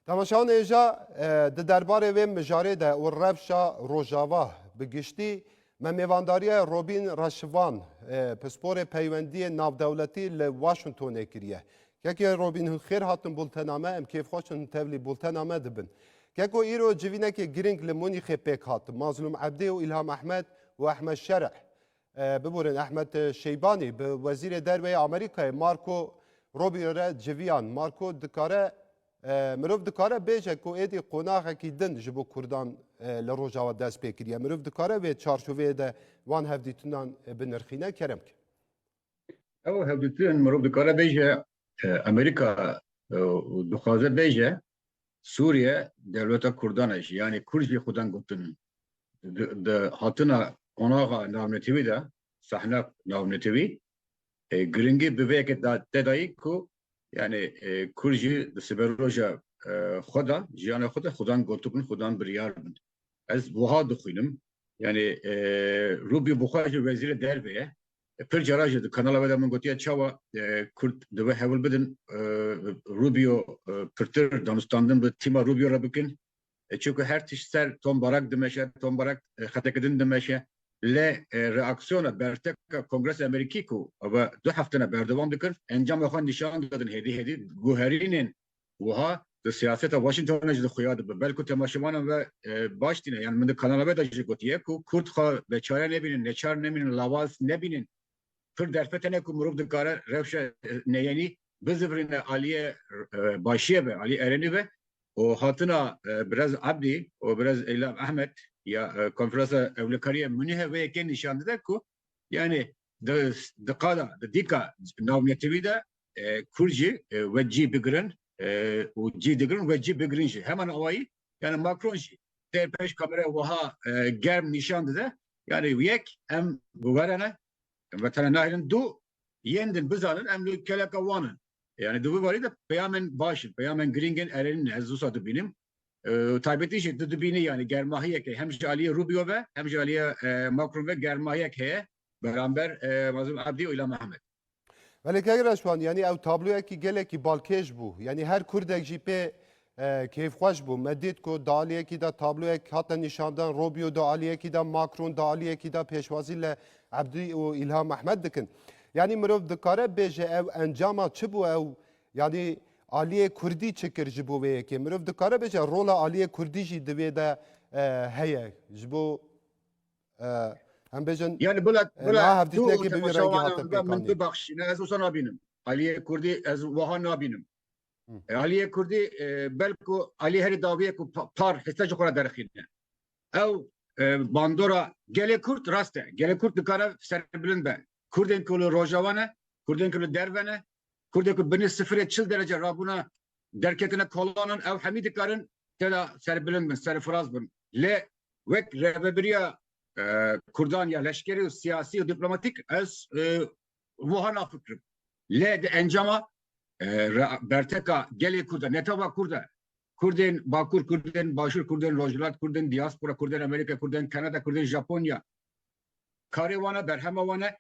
Temaşeyan êja di derbarê wê mijarê de û rewşa Rojava bi giştî me mêvandariyê Robîn Reşivan pisporê peywendiyê navdewletî li Washingtonê kiriye. Kekê Robîn hûn xêr hatin bultena me em kêfxweş in tevlî bultena me dibin. Keko îro civînekê girîng li Munîxê pêk hat. Mazlûm Ebdê û Îlham Ehmed û Ehmed Şereh Biborên Ehmed Şeybanî bi Wezîrê Derveyê Amerîkayê Marco Rubio re civiyan. Marco dikare mirov dikare bêje ku êdî qonaxekî din ji bo Kurdan li Rojava dest pê kiriye. Mirov dikare wê çarçoveyê de wan hevdîtinan binirxîne kerem ke. Ew hevdîtin mirov dikare bêje Amerîka dixwaze bêje Sûriye dewleta Kurdan e jî yanî Kurd jî xwedin gotin di hatina qonaxa navnetewî de sahna navnetewî giringî bi vê yekê te dayî ku yanî Kurd jî di siberoja xwe de jiyana xwe de xwedan gotibin xwedan biryar bin. Ez wiha dixwînim yanî Rubî bi xwe jî wezîrê derve ye Pir cara jî di kanala we de min gotiye çawa Kurd divê hewil bidin Rubio pirtir danûstandin bi tîma Rubio re bikin. Çunku her tişt ser Tom Barak dimeşe, Tom Barak xeteke din dimeşe. Lê reaksiyona berteka Kongresa Amerîkî ku ava du heftene berdewam dikir, encama xwe nîşan dadin hêdî hêdî guherînên Wiha di siyaseta Washington de jî di xuya dibe. Belku temaşevanan ve baş tîne. Yan min di kanala ve de jî gotiye ku Kurd xwe beçare nebînin, neçar nemînin, lawaz nebînin. Pir derfete ne ku mirov dikare rewşa neyenî bizivirîne aliyê başiyê ve, aliyê erenî ve û hatina Birez Ebdî û Birez Îlham Ehmed ya Konferansa Ewlekariyê Munîhe vê yekê nîşan dide ku Yanî di di qala di dîka navnetewî de Kurd jî we cî bigirin û cî digirin we cî bigirin jî heman awayî yanî Macron jî tê pêş kameraya wiha germ nîşan dide yanî yek em bi we re ne em bi te re nayêrin du yên din bizanin em li keleka wan in. Yanî di vî barî de peyamên baş in, peyamên girîng in erênî ne ez wisa dibînim. Taybetî jî tu dibînî yanî germahiyekê hem ji aliyê Rubio ve hem ji aliyê Macron ve germahiyek heye beramber Mazlûm Abdî û Îlhan Mehmet. Belê Kayî Reşwan yanî ew tabloyekî gelekî balkêş bû. Yanî her kurdek jî pê kêfxweş bû. Me dît ku di aliyekî de tabloyek hate nîşandan, Rubio di aliyekî de, Macron di aliyekî de pêşwazî li Abdî û Îlhan Mehmet dikin. Yanî mirov dikare bêje ew encama çi bû ew Yanî aliyê kurdî çi kir ji bo vê yekê? Mirov dikare bêje rola aliyê kurdî jî di vê de heye ji bo em bêjin Yanî bila bila niha tu hevdîtinekê bi wî rengî hate çawa min pêkanîn. bibexşîne ez wisa nabînim. Aliyê kurdî ez wiha nabînim. Aliyê kurdî belku aliyê herî dawî ye ku pa- par hisse ji xwe re derxîne. Ew bandora gelê kurd rast e. Gelê kurd dikare serbilind be. Kurdên ku li roja we ne, kurdên ku li derve ne, Kurdê ku binê sifirê çil derece rabûna derketina kolanan ew hemî dikarin têda serbilind bin, serfiraz bin. Lê wek rêvebiriya Kurdan ya leşkerî û siyasî û dîplomatîk ez wiha nafikirim. Lê di encama berteka gelê Kurd e, ne tava Kurd e, Kurdên Bakur, Kurdên Başûr, Kurdên Rojhilat, Kurdên Dîaspora, Kurdên Amerîka, Kurdên Kanada, Kurdên Japonya, karê wan e, berhema wan e,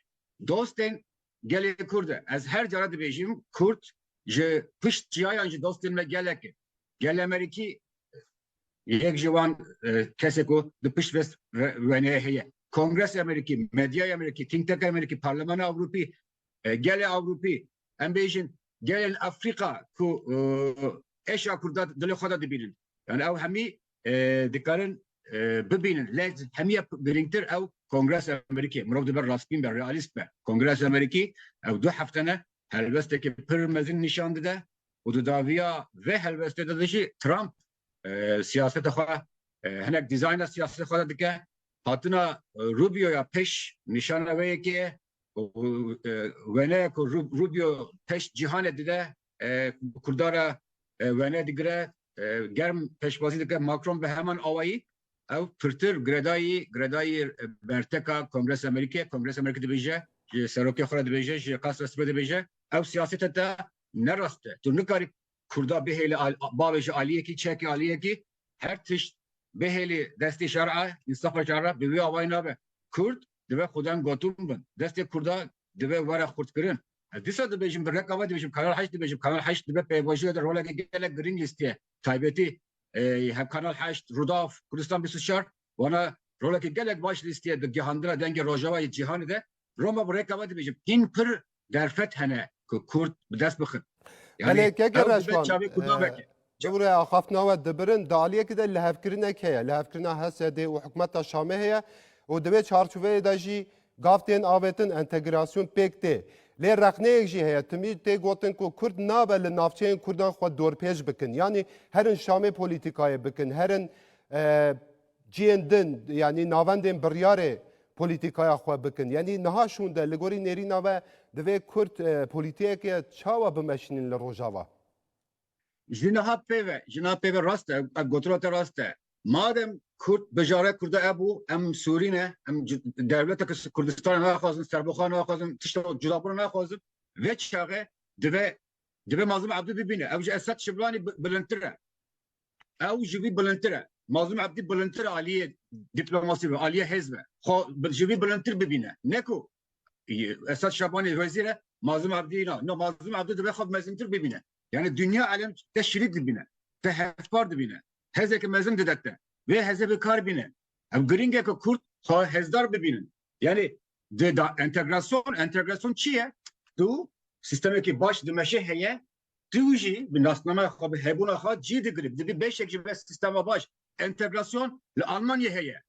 dostên gelê Kurd e. Ez her cara dibêjim Kurd ji pişt çiyayan ji dostên me gelek e. Gel Amerîkî yek ji wan kesê ku di pişt vê weneyê heye. Kongresa Amerîkî, medyaya Amerîkî, think tanka Amerîkî, Parlemana Ewropî, gelê Ewropî em bêjin gelên Afrika ku êşa Kurdan dilê xwe de dibînin. Yani ew hemî dikarin bibînin. Lê hemiye girîngtir ew Kongresa Amerîkî. Mirov dibe rastbîn be, realîst be. Kongresa Amerîkî ew du hefte ne helwestekî pir mezin nîşan dide û di daviya vê helwestê de jî Trump siyaseta xwe hinek dîzayna siyaseta xwe de dike. Hatina Rubioya pêş nîşana wê yekê ye. wene ku Rubio teş cîhanê dide kurdara wene digire germ peşbazî dike Macron bi heman awayî ew pirtir giredayî giredayî berteka Kongresa Amerîkê Kongresa Amerîkê dibêje ji serokê xwe re dibêje ji qasra sibê dibêje ew siyasete te ne rast e tu nikarî kurda bihêle bavê ji aliyekî çekê aliyekî her tişt bihêlê destê şer'a însafa şer'a bi wê awayî nabe kurd dibe xwedem gotin bin. Destê kurda dibe were xurtkirin. Ez dîsa dibêjim bi reka ve dibêjim Kanal Heşt dibêjim. Kanal Heşt dibe pêvajoyê de roleke gelek girîng lîstiye. Taybetî hem Kanal Heşt, Rûdaw, Kurdistan bîst û çar wana roleke gelek baş lîstiye di gihandina dengê Rojavayê cîhanê de. Roma bi reka ve dibêjim hîn pir derfet hene ku Kurd bi dest bixin. Belê keke reşkan Cewre axaf nawe dibirin di aliyekî de lihevkirinek heye lihevkirina HSDê û hikûmeta Şamê heye û di vê çarçoveyê de jî gav tên avêtin entegrasyon pêk tê. Lê rexneyek jî heye timî tê gotin ku Kurd nabe li navçeyên Kurdan xwe dorpêç bikin yanî herin Şamê polîtîkayê bikin herin Cihên din yanî navendên biryarê polîtîkaya xwe bikin. Yanî niha şûnde li gorî nêrîna we divê Kurd polîtîkeke çawa bimeşînin li Rojava? Ji niha pêve, ji niha pêve rast e, ev gotina te rast e. Madem Kurd bijara Kurda hebû, em Sûrî ne, em dewleteke Kurdistanê naxwazin, serbixwe naxwazin, tişta wek cudabûna naxwazin, vê çaxê divê divê Mazlûm Ebdû bibîne. Ew ji Esed Şiblanî bilindtir e. ew ji vî bilindtir e. Mazlûm Ebdî bilindtir aliyê dîplomasî be, aliyê hêz be. Xwe ji vî bilindtir bibîne. Ne ku Esad Şabanê wezîr e, Mazlûm Ebdî na. No, Mazlûm Ebdî divê xwe mezintir bibîne. Yani dinya elem te şirît dibîne, te hevpar dibîne. Hezeke mezin dide te. Vê heze bi kar bîne. Ev girîng e ku Kurd xwe hezdar bibînin. Yani di da entegrasyon, entegrasyon çi ye? Tu sistemekî baş dimeşê heye, Tu jî bi nasnameya xwe bi hebûna xwe cî digirî, dibî beşek ji vê sîstema baş. Entegrasyon li Almanyayê heye,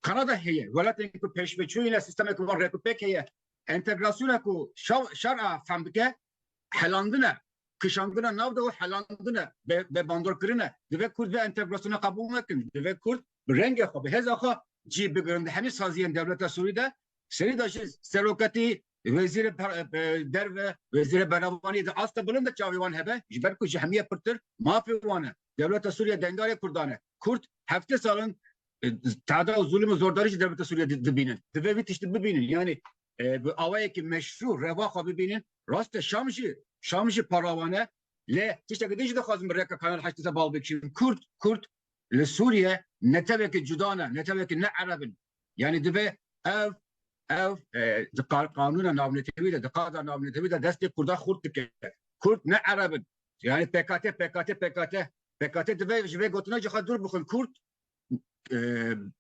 Kanada heye, welatên ku pêşveçûyîne sîstemeke wan rêk û pêk heye. Entegrasyona ku şer a fehm dike helandin e, kişandina nav de û helandin e, bêbandorkirin e. Divê Kurd vê entegrasyona qebûl nekin. Divê Kurd bi rengê xwe, bi hêza xwe cî bigirin. Di hemî saziyên dewleta Sûrî de, serî de ji seroketî Wezîrê derve, wezîrê berevanî di asta bilind de çavê wan hebe ji ber ku ji hemiye pirtir mafê wan e. Dewleta Sûriye dengarê Kurdan e. Kurd hefte sal in tada û zulm û zordarî ji dewleta Sûriye dibînin. Divê vî tiştî bibînin yanî bi awayekî meşrû reva xwe bibînin. Rast e Şam jî Şam jî para wan e. Lê tiştekî din jî dixwazim bi rêka Kanal heşt di ser bal bikişînim. Kurd Kurd li Sûriye netewekî cuda ne, netewekî ne ereb in, Yani dibe ev ev di qanûna navnetewî de di qada navnetewî de destê Kurda xurt dike. Kurd ne Ereb in. Yani PKT, PKT, PKT. PKT dibe ji vê gotina ji xwe dûr bixin. Kurd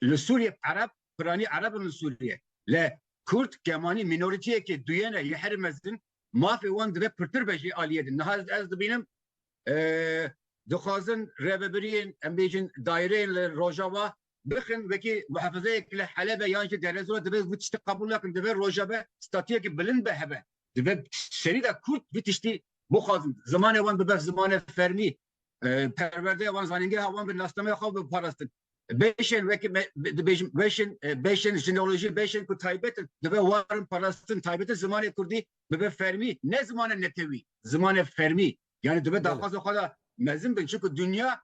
li Sûriye Ereb, piranî Ereb in li Sûriye. Le Kurd kemanî mînoritiyekê duyene yê herî mezin mafê wan dibe pirtir be jî aliyê din. Niha ez dibînim dixwazin rêvebiriyên em bêjin daireyên li Rojava bixin wekî muhefizeyek li Helebê yan jî Derezor dibe vî tiştî qebûl nakin. Dibe Rojava statuyekî bilind be hebe. Dibe serî de Kurd vî tiştî bixwazin. Zimanê wan bibe zimanê fermî, perwerdeya wan, zanîngeha wan be, nasnameya xwe bibe parastin. Beşên wekî me dibêjin beşên beşên jineolojî beşên ku taybet in dibe warin parastin taybeti zimanê kurdî bibe fermî ne zimanê netewî zimanê fermî yani dibe daxwaza xwe da mezin bin çunku dinya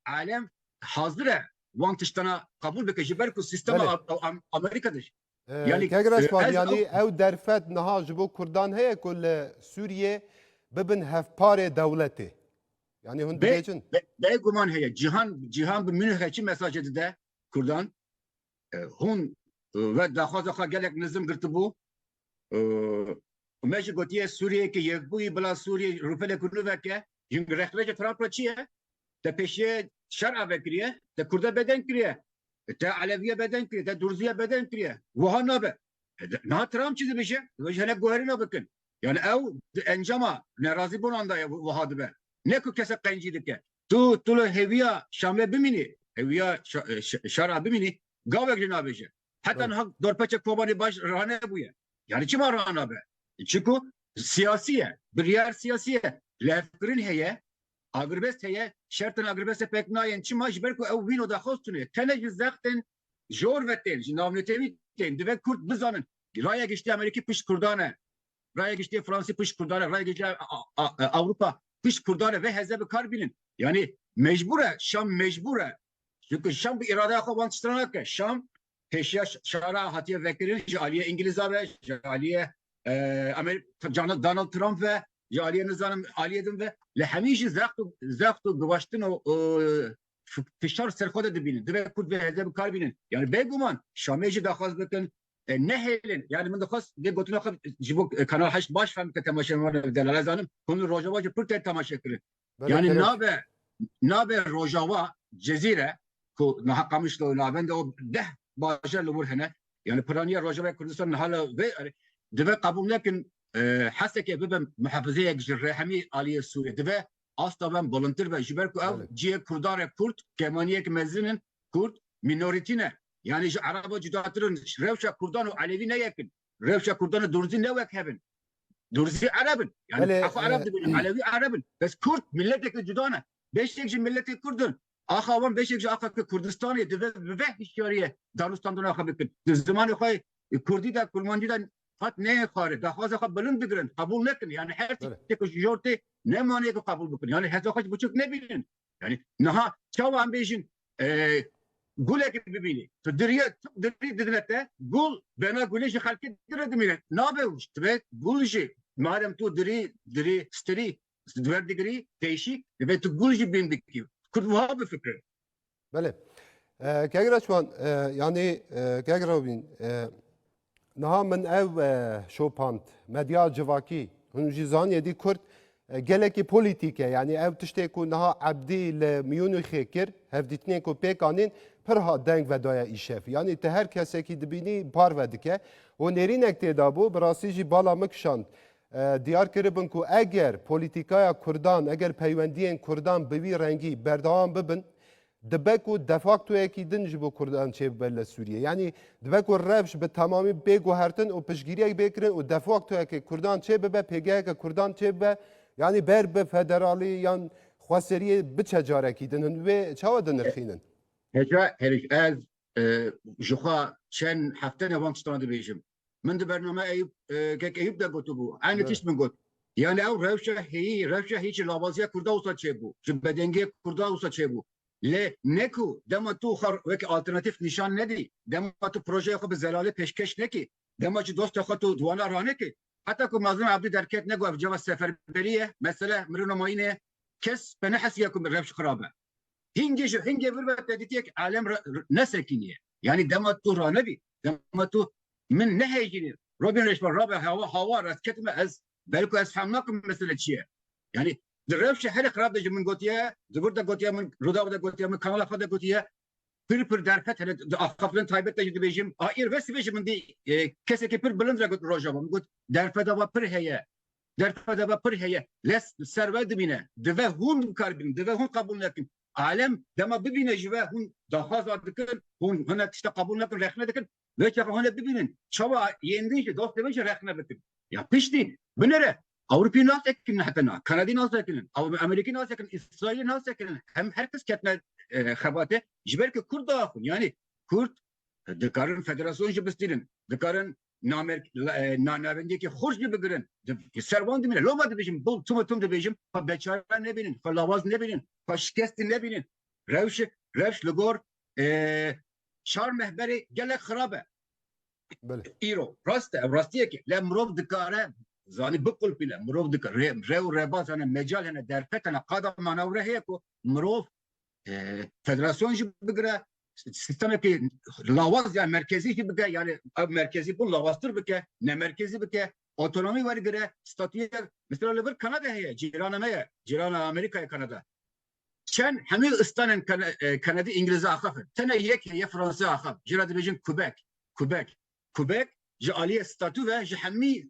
alem hazir e wan tiştana qebûl bike ji ber ku sîstema Amerîka de Yanî Kegra ez Şwad, yanî ew ew derfet niha ji bo Kurdan heye ku li Sûriyê bibin hevparê dewletê? Yanî hûn Be- dibêjin? be- Bêguman heye. Cîhan cîhan bi Münihê çi mesajê dide Kurdan? E, Hûn e, ve daxwaza xwe gelek nizm girtibû. E, Me jî gotiye Sûriyeyeke yekbûyî bila Sûriyê rûpelek û nûveke Jin rexneca Trump re çi ye? Te pêşiye şer ave kiriye, te Kurda bedeng kiriye, te Eleviye bedeng kiriye, te Durziye bedeng kiriye. Wiha nabe. Niha Trump çi dibêje? Dibêje hinek guherîna bikin. Yani ew di encama nerazîbûnan de ye wiha dibe. Ne ku kesek qencî dike. Tu tu li hêviya Şamlê bimînî, hêviya şer a bimînî gavek jî nabêje. Heta niha dorpeça Kobanê baş ranebûye. Yani çima ranabe? Çiku Siyasî ye, biryar siyasî ye, lêvkirin heye, agrbest heye, şertên agrbestê pêk nayên çima ji ber ku ew vîno daxwestine tene ji zextên jor ve tên, ji navnetewî tên, divê kurd bizanin raya giştî amerîkî pişt kurdan e, raya giştî fransî pişt kurdan e, raya giştî ewropa pişt kurdan e vê heze bi kar bînin. Yanî mecbûr e, şam mecbûr e, çunku şam bi îradeya xwe wan tiştira nake, şam Pêşiya şara hatiye vekirin ji aliyê Îngilîza ve, ji aliyê cana Donald Trump ve, ji aliyê nizanim aliyê din ve. Li hemî jî zext û zext û guvaştin û fişar ser xwe de dibînin. Divê Kurd vê hêzê bi kar bînin. Yanî bêguman Şamê jî daxwaz bikin nehêlin. Yanî min dixwest vê gotina xwe ji bo Kanal Heşt baş fehm bike temaşevanê bi delal. Ez zanim hûn li Rojava jî pir tên temaşe kirin. Yani nabe nabe Rojava Cezîre ku niha qamiş li navend o deh bajar li wir hene yani piraniya Rojava Kurdistan niha li vê dibe qebûl nekin heseke bibe muhefizeyek ji rehemî aliyê Sûrê dibe asta ben bilintir be ji ber ku ew ciyê Kurdan re Kurd kemaniyek mezin in Kurd mînorîtî ne yani ji Eraba cudatir in rewşa Kurdan û Elevî neyekin Rewşa Kurdan û Durzî ne wek hev in. Durzî Ereb in. Yani Belê, axa Ereb e, dibînin, Elewî Ereb in. Bes Kurd mileteke cuda ne. Beşek ji miletê Kurd in. Axa wan beşek ji axa ke Kurdistanê dibe bi veh hişyariye danûstandina xwe bikin. Di zimanê xwe e, Kurdî de, Kurmancî de qet neyên xwarin. Daxwaza xwe bilind bigirin, qebûl nekin. Yani her Belê. tiştekî ku ji jor tê ne manê ku qebûl bikin. Yani heza xwe ji biçûk nebînin. Yani niha çawa em bêjin gulekê bibînî. Tu diriyê dirî didine te gul bena gulê ji xelkê dire dimîne. Nabe û dibe gul jî madem tu dirî dirî stirî diber digirî teyşî dibe tu gul jî bîn bikî. Kurd wiha bifikir. Belê. Kegira çiwan yanî kegira bîn Niha min ev şopand. Medya civakî, hûn jî zaniye dî Kurd gelekî polîtîk e. Yanî ev tiştê ku niha Ebdî li Mûnîxê kir, hevdîtinên ku pêk anîn pir hat deng vedaye îşev. Yanî tu her kesekî dibînî parve dike. Û nêrînek têda bû, bi rastî jî bala min kişand. Diyar kiribin ku eger polîtîkaya Kurdan, eger peywendiyên Kurdan bi wî rengî berdewam bibin, Dibe ku defaktoyekî din ji bo kurdan çêbibe li Sûriyê. Yanî dibe ku rewş bi temamî bê guhertin û piştgîriyek bê kirin û defaktoyekê kurdan çêbibe, pêgeheke kurdan çêbibe, yanî ber bi federalî yan xweseriyê biçe carekî din. Hûn wê çawa dinirxînin? Heja herî ez jixwe çend heftene wan tiştan dibêjim. Min di bername Eyûp kek Eyûp de gotibû. Aynı tişt min got. Yani ew rewşa heyî, rewşa hî ji labaziya Kurda wisa çêbû, ji bedengiyê Kurda wisa çêbû. Lê ne ku dema tu xwe wek alternatîf nîşan nedî, dema tu projeya xwe bi zelalê pêşkêş nekî, dema ji dosta xwe tu duana ranekî. Heta ku Mazlum Abdî derket ne got ev cava seferberî ye, mesele mirin û mayînê ye, kes pe nehesiya ku rewş xirab e. Hingê ji hingê vir ve te dikek alem nesekîniye. Yanî dema tu ranebî, dema tu min nehêjînê, Robin Reşber rabe hewa hawa re ketime ez belku ez fehm nakim mesele çi ye. Yanî di rewşa herek rabe ji min gotiye, di vir de gotiye min, Rûdaw de gotiye min, kanala xwe de gotiye, pir pir derfet hene di axaftin taybet de jî dibêjim. A îr ve sibê ji min dî kesekî pir bilind re got rojava min got derfeta va pir heye. Derfeta ve pir heye. Lez li ser we dimîne. Dive hûn bi kar bînin. Dive hûn qebûl nekin. Alem dema bibîne ji we hûn daxwaza dikin, hûn hinek tişta qebûl nekin, rexne dikin. Vê çaxa hûn ê bibînin çawa yên din jî, dostên wê jî rexne bikin. Ya piştî binêre. Ewropî nas sekinin heta niha. Kanadî nas sekinin. Amerîkî nas sekinin. Îsraîlî nas sekinin. Hem her kes ketine xebatê. Ji ber ku kurd diaxivin. Yanî kurd dikarin federasyon jî bistînin. Dikarin namerk nanavendiyekê xurc li bigirin ser wan dimîne loma dibêjim bo tuma tim dibêjim xwe beçare nebînin xwe lawaz nebînin xwe şikestî nebînin rewşi rewş li gor çar mehberê gelek xirab e îro rast e ew rastiyekê le mirov dikare zanî biqulpîne mirov dikare rew reba zane mecal hene derfet hene qada manawre heye ku mirov federasyon jî bigire sistemekî lawaz ya merkezî jî bike yani ev merkezî bûn lawaztir bike ne merkezî bike otonomî wergire statûye mesela li vir Kanada heye cîrana me ye cîrana Amerîkayê Kanada çend hemî istanên Kanadî Îngilîze axafin tene yek heye Fransa axaf jî re dibêjin Quebec Quebec Kubek ji aliyê statû ve ji hemî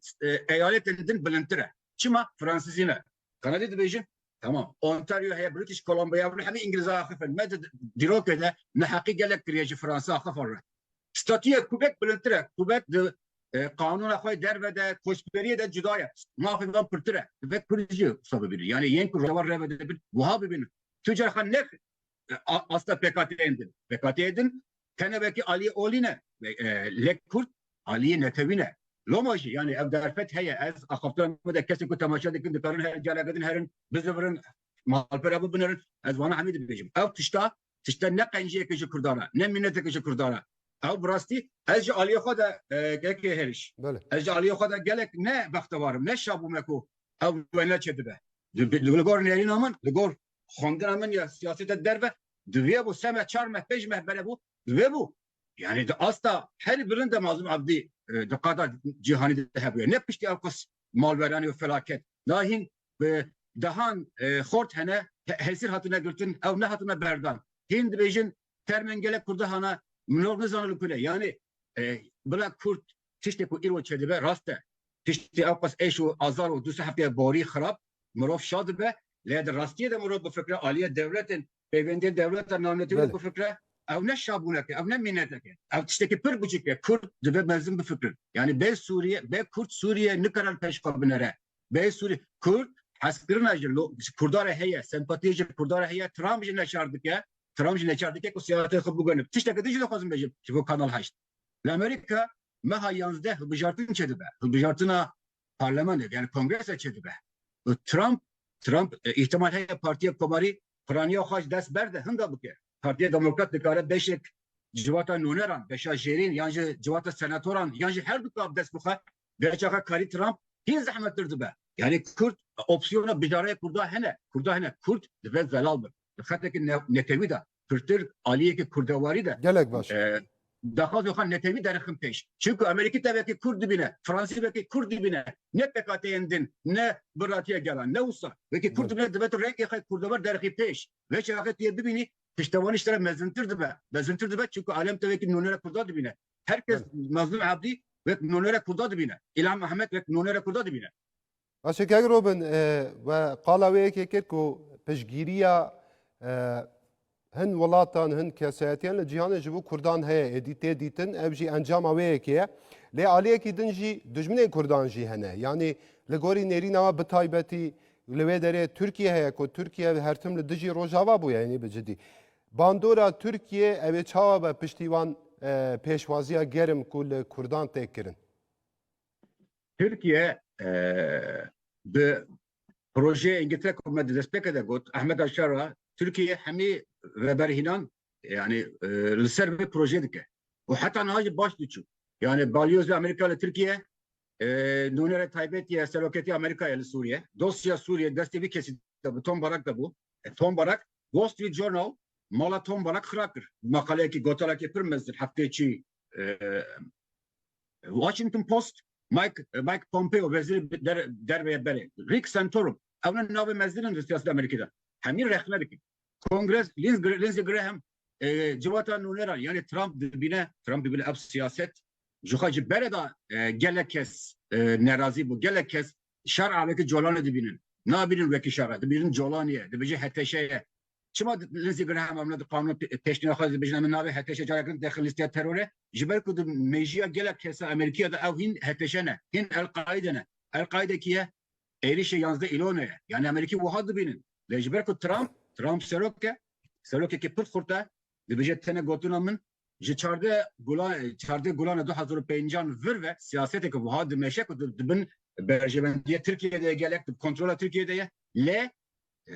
eyaletên din bilindtir e. Çima? Fransizî ne. Kanadî dibêjin? Tamam. Ontario heye, British Columbia hûn hemî îngilîze axif in. Me di dîrokê de neheqî gelek kiriye ji Fransa axifan re. Statûya Kubek bilindtir e. Kubek di qanûna xwe derve de, koçberiyê de cuda ye. Mafê wan pirtir e. Divê kurd jî wisa bibînin. Yanî yên ku rojava re ve dibin wiha bibînin. Tu carxan ne asta PKT'yên din. PKT'yê din tene vekî aliyê olî ne. Lek Kurd aliyê netewî ne. Loma jî yani ev derfet heye ez axaftiran me de kesê ku temaşe dikin dikarin her careke din herin, bizivirin, malpera bibinirin. Ez wana hemî dibêjim. Ev tişta tişta ne qenciyeke ji Kurdan e, ne mîneteke ji Kurdan e. Ew bi rastî ez ji aliyê xwe de gelekê hêriş. Ez ji aliyê xwe de gelek ne bextewar im, ne şabûme ku ew wene çêdibe. Li gor nêrîna min, li gor xwendina min ya siyasete derve divê bû seme çar meh pêj meh bere bû divê bû yani di asta herî bilind de Mazlum Abdî e, di qada cîhanî de hebûye ne piştî ev qis malweranî û felaket da hîn bi dehan e, xort hene hesîr hatine girtin ew nehatine berdan hîn dibêjin termên gelek Kurda hana milor nizane li ku ne. Yanê bila Kurd tiştê ku îro çêdibe rast e. Tiştê ewqas êş û azar û du sê hefteyê borî xirab mirov şa dibe. Lê di rastiyê de mirov bifikre aliyê dewletên, pêvendiyên dewleta navnetewî de bifikre ew ne şabûnek e, ew ne mînetek e. Ew tiştekî pir biçik e. Kurd dibe mezin bifikrin. Yanî bê Sûriye, bê Kurd Sûriye nikare li pêş xwe binere. Bê Sûriye, Kurd hezkirina ji Kurda re heye, sempatiyê ji Kurda re heye, Trump jî neçar dike. Trump jî neçar dike ku siyaseta xwe bigwe li tiştekî din jî dixwazim bêjim ji bo Kanal Heşt. Li Amerîka meha yazdeh hilbijartin çêdibe. Hilbijartina parlemenê yani kongrese çêdibe û Trump Trump îhtimal heye Partiya Komarî piraniya xwe ji dest berde hinda bike. Partiya Demokrat dikare beşek civata noneran, beşa jêrîn yan jî civata senatoran yan jî herduka bi dest bixe Vê çaxa karî Trump hîn zehmettir dibe. Yanî Kurd opsiyona bijareyê Kurda hene. Kurda hene. Kurd divê zelal bin. Di xetekî netewî de pirtir aliyekî kurdewarî de. Gelek baş. Daxwazên xwe netewî derixin pêş. Çimku Amerîkî tevekê Kurd dibîne, Fransî vekê Kurd dibîne. Ne pekateyên din, ne biratiya gelan. Ne wisa. Wekî Kurd dibîne dibe tu rengê xwe kurdewar derixî pêş. Vê çaxê tu yê bibînî piştewanî ji te re mezintir dibe. Mezintir dibe çimku alem tevekî nûnera Kurda dibîne. Her kes Mazlum Abdî wek nonera Kurda dibîne. Îlhan Mehmet wek nonera Kurda dibîne. Başê kek Robin e, we qala wê yekê kir ku piştgîriya e, hin welatan hin kesayetiyan li cîhanê ji bo Kurdan heye êdî tê dîtin ev jî encama wê yekê ye. Lê aliyekî din jî dijminên Kurdan jî hene. Yanî li gorî nêrîna we bi taybetî li wê derê Tirkiye heye ku Tirkiye her tim li dijî Rojava bûye yanî bi cidî. Bandora Tirkiyê ew ê çawa be piştî wan pêşwaziya germ ku li Kurdan tê kirin? Tirkiye di projeyê Îngiltere ku me di destpêkê de got Ahmeda Şara Tirkiyeyê hemî veberhînan yanî li ser vê projeyê dike û heta niha jî baş diçû. Yanî balyoza Amerîka li Tirkiye Nûnere taybet ya Seroketî Amerîkayê li Sûriyê, dosya Sûriyê destê vî kesî de bi Tom Barak de bû. Tom Barak, Wall Street Journal mala Tom Barak xira kir. Maqaleyekî gotarekî pir mezin hefteyê çî Washington Post, Mike Mike Pompeo wezîrê der derve ya berê, Rick Santorum, ew ne navê mezin in li siyaseta Amerîkî de. Hemî rexne dikin. Kongres Lindsey Graham civata nûneran yanê Trump dibîne Trump dibîne ev siyaset ji xwe ji bere da gelek kes nerazî bû gelek kes şer avêti colanê dibînin nabînin wekî şer dibînin colanê ye dibêje heteşe ye çima Lindsey Graham amna di qanûn pêşnîya xwe dibêjin em navê heteşe carekin dexil lîsteya terorê ji ber ku di mêjiya gelek kesa Amerîkiya da ew hîn heteşe ne hîn El-Qaîde ne El-Qaîde kî ye êrişê yazdeh îlone ye. Yanî Amerîkî wiha dibînin. Lê ji ber ku Trump, Trump serok e, serokekî pir xurt e, dibêje tene gotina min, ji çardeh gula çardeh gulan e du hezar û pêncan vir ve siyaseteke wiha dimeşe ku di bin berjewendiya Tirkiyeyê de ye gelek di kontrola Tirkiyeyê de ye. Lê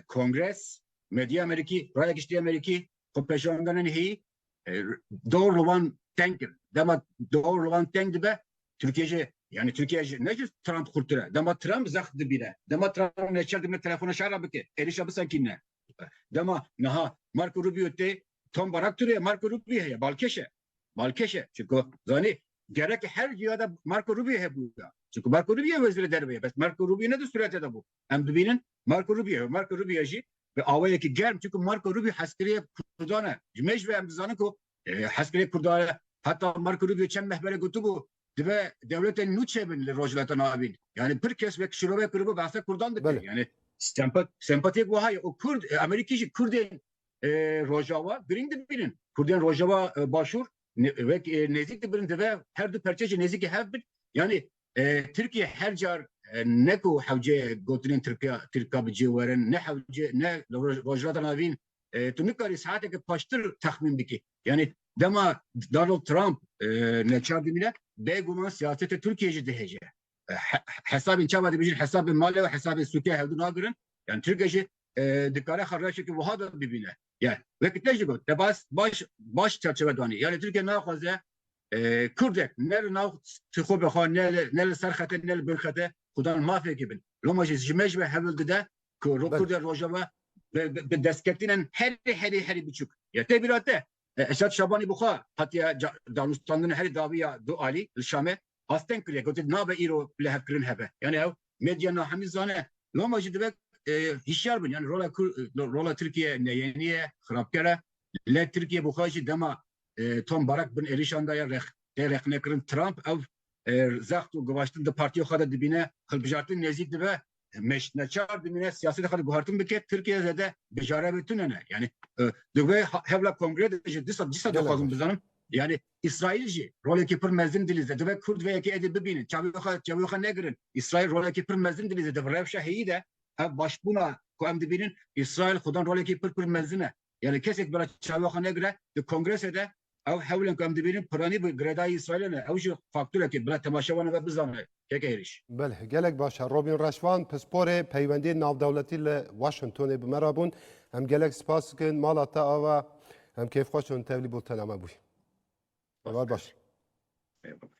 Kongres, medya Amerîkî, raya giştî Amerîkî xwe peşandanên heyî Dor li wan teng kir. Dema dor li wan teng dibe Tirkiye jî yani Tirkiye jî ne jî Trump xurtir e. Dema Trump zext dibîne. Dema Trump neçar dibîne telefona şer re bike. Êrişa bisekîne. Dema niha Marco Rubio tê Tom Barak turiye Marco Rubio heye balkêş e. Balkêş e. Çunku zanî gerek her cihada Marco Rubio hebû ya. Çunku Marco Rubio wezîrê derve ye. Bes Marco Rubio ne di surete de bû. Em dibînin Marco Rubio. Marco Rubio jî bi awayekî germ çunku Marco Rubio hezkirê Kurdan e. Ji mêj ve em dizanin ku hezkirê Kurdan e. Heta Marco Rubio çend meh pere gotibû dibe dewletên nû çêbin li Rojhilata Navîn. Yanî pir kes wek şirove kiribû behsa Kurdan dike. Yanî sempatiyek wiha ye û Kurd Amerîkî jî Kurdên Rojava girîng dibînin. Kurdên Rojava Başûr wek nêzîk dibin dibe her du perçe jî nêzîkî hev bin. Yanî Tirkiye her car ne ku hewce gotinên Tirkiya Tirka bi cê werin ne hewce ne li Rojhilata Navîn tu nikarî saeteke paştir texmîn bikî. Yanî dema Donald Trump neçar dimîne bêguman siyasetê Tirkiyeyê jî dihêje. Hesabên çawa dibêjin hesabên malê û hesabên sûkê hewdu nagirin. Yan Tirkiye jî dikare xwe rewşeke wiha de bibîne. Yan weke te jî got te baş baş çerçeve danî. Yanî Tirkiye naxwaze Kurdek ne li nav tu xwe be xwe ne li ser xete ne li bin xete xudan mafekê bin. Loma jî ji me ji we hewil dide ku Kurdên Rojava bi destketînan herî herî herî biçûk ya tê bîra te Esad Şabanî bi xwe hatiye danûstandin herî dawiya du alî li Şamê asteng kiriye gotiye nabe îro lihevkirin hebe. Yanî ew medya nahemî zane. Loma jî divek hişyar bin. Yanî rola Tirkiye neyênî ye, xirabker e. Lê Tirkiye bi xwe jî dema Tom Barak bin êrîşan de ye, tê rexnekirin Trump ew zext û givaştin di partiya xwe de dibîne, hilbijartin nêzîk dibe, neçar dimîne siyasetê xwe guhertin bike, Tirkiye zêde bijare bi tune ne. Yanî di vê hevla kongrê de jî dîsa dîsa dixwazim bizanim yanî Îsraîl jî rolekî pir mezin dilî zêde dibe Kurd vê yekê êdî bibînin çavê xwe çavê xwe negirin. Îsraîl rolekî pir mezin dilî zêde bi rewşa heyî de ev başbûna ku em dibînin Îsraîl xwedin rolekî pir pir mezin e. Yani kesek bila çaviya xwe negire di kongrese de ew hewlên ku em dibînin piranî bi girêdayî Îsraîlê ne. Ew jî fakturekê bila temaşeya wan ebe bizane keke êrîş. Belh, gelek baş e. Robîn Reşvan, pisporê peywendiyên navdewletî li Washingtonê bi me re bûn. Em gelek spas dikin. Mala te ava. Em kêfxweş in tevlî bultena me bûyî. Heval baş. Eyvallah.